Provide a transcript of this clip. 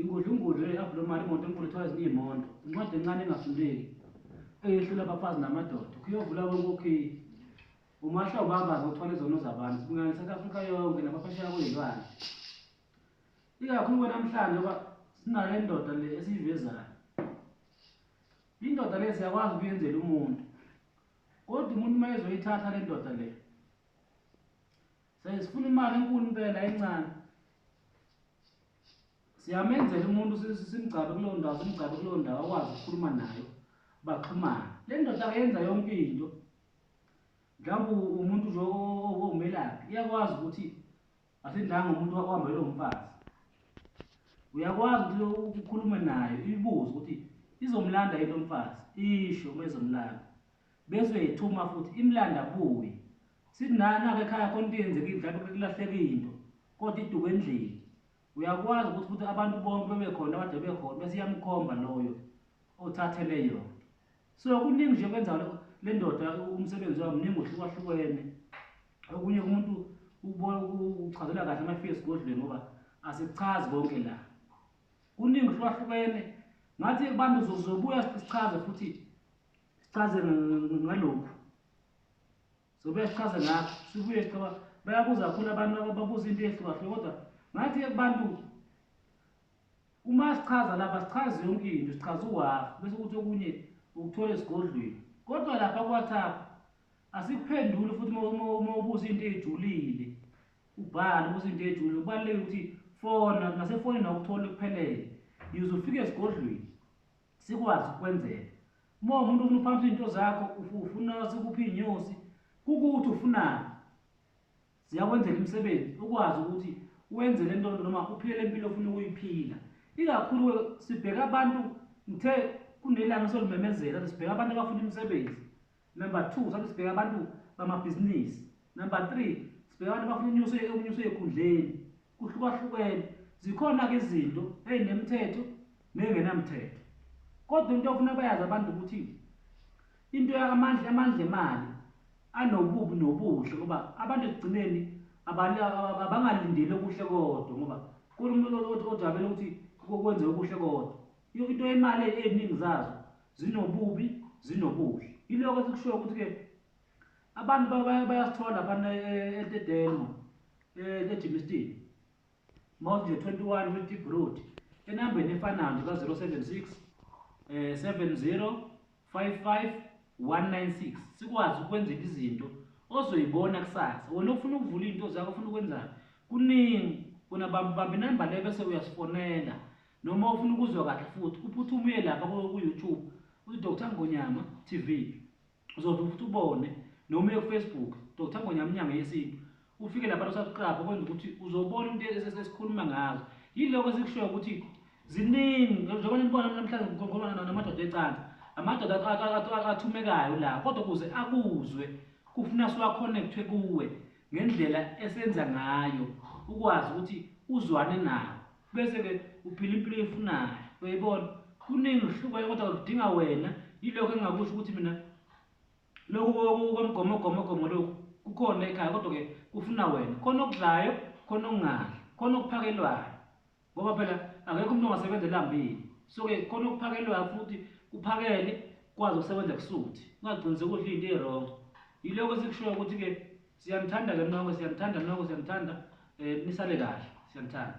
Ingudlungudlu eyi-abnormal imoto enkulu ethiwa ezinye iy'mondo. Incwadi encane engafundeki eyehlula abafazi namadoda. Ukuyovula konke okhiye. Umahla ubabaza uthwala izono zabantu. Sibingelele iSouth Africa yonke nabaphesheya kwey'lwane. Ikakhulu kwenamhlanje ngoba sinale ndoda le esiyivezayo. Indoda le siyakwazi ukuyenzela umuntu. Kodwa umuntu uma ezoyithatha le ndoda le Says funa imali enkulu impela encane. Siyamenzela umuntu simgcabe kuleyo ndawo, simgcabe kuleyo ndawo akwazi ukukhuluma nayo. Baxhumana. Le ndoda yenza yonke into. Mhlawumbe umuntu nje omelaphi iyakwazi ukuthi asindanga umuntu wakuhamba lo mfazi. Uyakwazi ukuthi ukhulume nayo ibuze ukuthi izomlanda yini lo mfazi. Isho uma izomlanda. Bese uyithuma futhi imlanda kuye. Sithi naye nakho ekhaya khona into eyenzekile mhlawumbe kulahleke into kodwa iduku endlini. Uyakwazi ukuthi ukuthi abantu bonke bebekhona abade bekhona bese iyamkhomba loyo othathele yona. So kuningi nje kwenza le ndoda umsebenzi wayo mningi uhlukahlukene. Okunye kumuntu ubona uchazela kahle amafika esigodlweni ngoba asichazi konke la. Kuningi uhlukahlukene ngathi abantu zobuya sichaze futhi sichaze ngalokhu so buyasichaza lapho sibuye sichaba bayabuza kakhulu abantu babuza into ehlukahlukene kodwa ngathi kubantu uma sichaza lapha sichaze yonke into sichaza uwafa bese ukuthi okunye ukuthole esigodlweni kodwa lapha kwathapha asikuphenduli futhi uma ubuza into eyijulile ubhale ubuza into eyijulile kubaluleke ukuthi fona nasefonini awukuthole kuphelele yize ufike esigodlweni sikwazi ukwenzela uma umuntu ufuna uphamisa izinto zakho ufuna sikuphi iy'nyosi kukuthi ufunani ziyakwenzela imisebenzi ukwazi ukuthi wenze le nto noma uphile le mpilo ofuna ukuyiphila ikakhulu sibheka abantu ngithe kunelanga solumemezela sibheka abantu abafuna imisebenzi Number two, sathi sibheka abantu bamabhizinisi. Number three, sibheka abantu abafuna unyuso unyuso ekhundleni. Kuhlukahlukene. Zikhona-ke izinto ezinemithetho nengenamthetho. Kodwa into ofuna bayazi abantu ukuthi into yamandla amandla emali anobubi nobuhle ngoba abantu ekugcineni abangalindeli okuhle kodwa ngoba kunomuntu ojabele ukuthi kwenze okuhle kodwa into yemali eziningi zazo Zinobubi, zinobuhle. Iloko esikushoyo ukuthi ke abantu bayasithola laphana eTedelmo, eTejimistin. Mawuthi nje 21 with deep root enambeni efanayo nje ka-076 eh 70 55 196 sikwazi ukwenzela izinto ozoyibona kusasa wena ufuna ukuvula into zakho ufuna ukwenzani kuningi kunabambi bambi number le bese uyasifonela Noma ufuna ukuzwa kahle futhi uphuthume uye lapha ku-YouTube uthi Dr Ngonyama TV uzovele futhi ubone noma uye kufacebook Dr Ngonyama inyanga yesintu ufike lapha losubscribe okwenza ukuthi uzobona into esikhuluma ngazo yiloko esikushoyo ukuthi ziningi njengoba nibona namhlanje ngikhuluma namadoda ecansi amadoda athumekayo la kodwa ukuze akuzwe kufuna siwa-connectwe kuwe ngendlela esenza ngayo ukwazi ukuthi uzwane nawo bese ke uphila impilo efunayo uyayibona kuningi uhlukwayo kodwa kudinga wena yilokho engingakusho ukuthi mina lokhu komgomogomogomo lokhu kukhona ekhaya kodwa ke kufuna wena khona okudlayo khona okungadli khona okuphakelwayo ngoba phela akekho umuntu ongasebenza elambile so ke khona okuphakelwayo futhi kuphakele kwazi ukusebenza kusuthi ungagcinisekile ukuthi into erongo yilokho esikushoyo ukuthi ke siyanithanda ke nonke siyanithanda nonke siyanithanda um nisale kahle siyanithanda